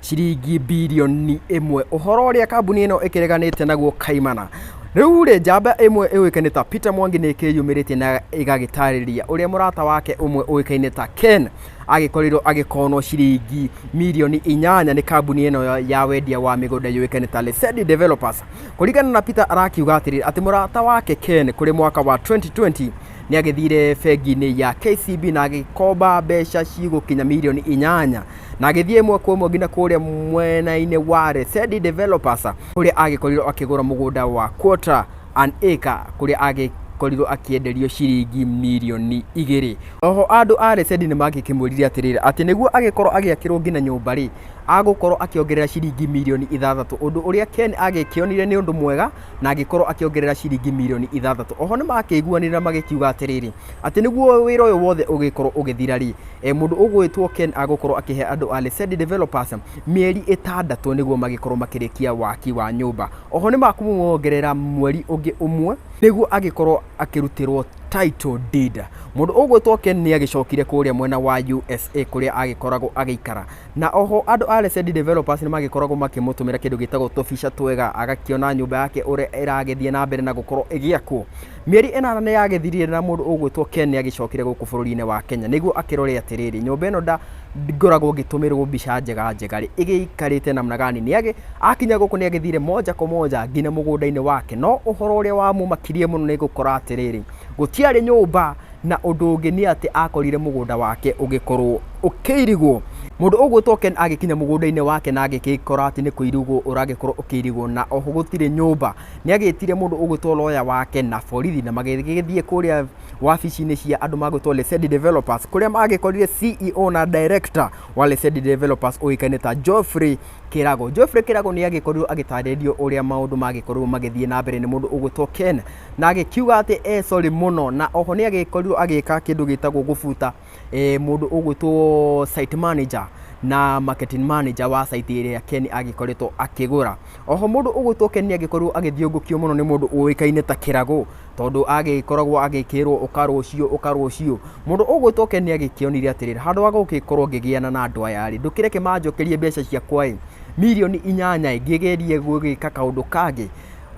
ciringi birioni ĩmwe, ũhoro ũrĩa kambuni ĩno ĩkĩreganĩte naguo kaimana. Rĩu rĩ, njamba ĩmwe ĩũĩkaine ta Peter Mwangi nĩ ĩkĩyumĩrĩtie na ĩgagĩtarĩria ũrĩa mũrata wake ũmwe ũĩkaine ta Ken agĩkorirwo agĩkonwo ciringi mirioni inyanya nĩ kambuni ĩno ya- ya wendia wa mĩgũnda yũĩkaine ta Lesedi Developers. Kũringana na Peter arakiuga atĩrĩrĩ atĩ mũrata wake Ken kũrĩ mwaka wa 2020 nĩ agĩthire bengi-inĩ ya KCB na agĩkomba mbeca cigũkinya mirioni inyanya na agĩthiĩ ĩmwe kwa ĩmwe nginya kũrĩa mwena-inĩ wa Resedi Developers kũrĩa agĩkorirwo akĩgũra mũgũnda wa quarter an acre kũrĩa agĩkorirwo akĩenderio ciringi mirioni igĩrĩ. Oho andũ a Resedi nĩ mangĩkĩmwĩrire atĩrĩrĩ atĩ nĩguo agĩkorwo agĩakĩrwo nginya nyũmba rĩ, agũkorwo akĩongerera ciringi mirioni ithathatũ, ũndũ ũrĩa Ken agĩkĩonire nĩ ũndũ mwega na agĩkorwo akĩongerera ciringi mirioni ithathatũ oho nĩ makĩiguanĩra magĩkiuga atĩrĩrĩ atĩ nĩguo wĩra ũyũ wothe ũgĩkorwo ũgĩthira rĩ e, mũndũ ũgwĩtwo ken agũkorwo akĩhe andũ a Lesedi developers mĩeri ĩtandatũ nĩguo magĩkorwo makĩrĩkia waki wa nyũmba oho nĩ makũmuongerera mweri ũngĩ ũmwe nĩguo agĩkorwo akĩrutĩrwo title deed mũndũ ũgwĩtwo ken nĩ agĩcokire kũrĩa mwena wa usa kũrĩa agĩkoragwo agĩikara Na o ho andũ a Lesedi Developers nĩ magĩkoragwo makĩmũtũmĩra kĩndũ gĩtagwo tũbica twega, agakĩona nyũmba yake ũrĩa ĩragĩthiĩ na mbere na gũkorwo ĩgĩakwo. Mĩeri ĩnana nĩ yagĩthirire na mũndũ ũgwĩtwo Ken nĩ agĩcokire gũkũ bũrũri-inĩ wa Kenya nĩguo akĩrore atĩrĩrĩ, nyũmba ĩno nda ngoragwo ngĩtũmĩrwo mbica njega njega rĩ, ĩgĩikarĩte namna gani? Nĩ agĩ, akinya gũkũ nĩ agĩthire moja kwa moja nginya mũgũnda-inĩ wake, no ũhoro ũrĩa wamũmakirie mũno nĩ gũkora atĩrĩrĩ, gũtiarĩ nyũmba Na ũndũ ũngĩ nĩ atĩ akorire mũgũnda wake ũgĩkorwo ũkĩirigwo. Mũndũ ũgwĩtwo Ken agĩkinya mũgũnda-inĩ wake na agĩkora atĩ nĩ kũirigwo ũragĩkorwo ũkĩirigwo na oho gũtirĩ nyũmba. Nĩ agĩtire mũndũ ũgwĩtwo lawyer wake na borithi na magĩgĩthiĩ kũrĩa wabici-inĩ cia andũ magwĩtwo Lesedi Developers kũrĩa magĩkorire CEO na director wa Lesedi Developers ũĩkaine ta Geoffrey Kĩrago. Geoffrey Kĩrago nĩ agĩkorirwo agĩtarĩrio ũrĩa maũndũ magĩkorirwo magĩthiĩ na mbere nĩ mũndũ ũgwĩtwo Ken. na agĩkiuga atĩ e sorry mũno na oho nĩ agĩkorirwo agĩka kĩndũ gĩtagwo gũbuta eh, mũndũ ũgwĩtwo site manager na marketing manager wa site ĩrĩa Ken agĩkoretwo akĩgũra oho mũndũ ũgwĩtwo Ken nĩ agĩkorirwo agĩthiũngũkio mũno nĩ mũndũ ũĩkaine ta kĩragũ tondũ agĩkoragwo agĩkĩrwo ũka rũciũ ũka rũciũ mũndũ ũgwĩtwo Ken nĩ agĩkĩonire atĩrĩrĩ handũ wa gũgĩkorwo ngĩgĩana na andũ aya rĩ ndũkĩreke manjokerie mbeca ciakwa ĩ mirioni inyanya ĩ ngĩgerie gũgĩka kaũndũ kangĩ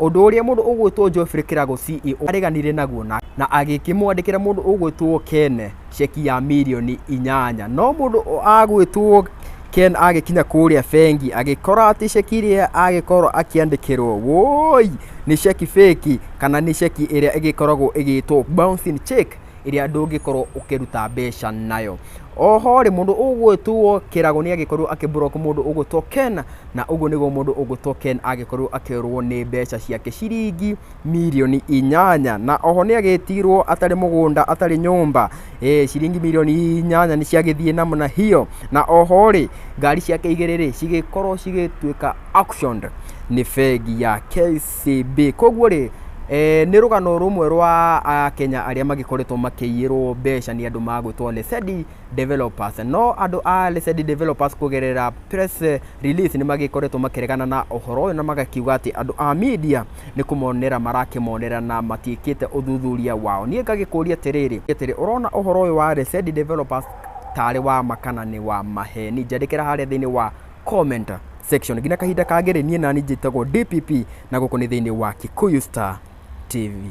Ũndũ ũrĩa mũndũ ũgwĩtwo Geoffrey Kĩrago CEO areganire naguo na na agĩkĩmwandĩkĩra mũndũ ũgwĩtwo Ken ceki ya mirioni inyanya. No mũndũ agwĩtwo Ken agĩkinya kũrĩa bengi agĩkora atĩ ceki ĩrĩa agĩkorwo akĩandĩkĩrwo wũi nĩ ceki fake kana nĩ ceki ĩrĩa ĩgĩkoragwo ĩgĩtwo bouncing cheque. ĩrĩa ndũngĩkorwo ũkĩruta mbeca nayo. Oho rĩ, mũndũ ũgwĩtwo kĩrago nĩ agĩkorwo akĩ block mũndũ ũgwĩtwo Ken, na ũguo nĩguo mũndũ ũgwĩtwo Ken agĩkorwo akĩũrwo nĩ mbeca ciake ciringi mirioni inyanya. Na oho nĩ agĩtigirwo atarĩ mũgũnda, atarĩ nyũmba, ĩĩ ciringi mirioni inyanya nĩ ciagĩthiĩ namna hiyo. Na oho rĩ, ngari ciake igĩrĩ rĩ, cigĩkorwo cigĩtuĩka auctioned nĩ bengi ya KCB. Ciimbĩ. Koguo rĩ, nĩ rũgano rũmwe rwa Akenya arĩa magĩkoretwo makĩiyĩrwo mbeca nĩ andũ magwĩtwo Lesedi Developers. No andũ a Lesedi Developers kũgerera press release nĩ magĩkoretwo makĩregana na ũhoro ũyũ na magakiuga atĩ andũ a media nĩ kũmonera marakĩmonera na matiĩkĩte ũthuthuria wao. Niĩ ngagĩkũria atĩrĩrĩ, atĩrĩ, ũrona ũhoro ũyũ wa Lesedi Developers tarĩ wa ma kana nĩ wa maheni? Njandĩkĩra harĩa thĩiniĩ wa comment section nginya kahinda kangĩ rĩ niĩ nani njĩtagwo DPP na gũkũ nĩ thĩinĩ wa Kikuyu Star TV.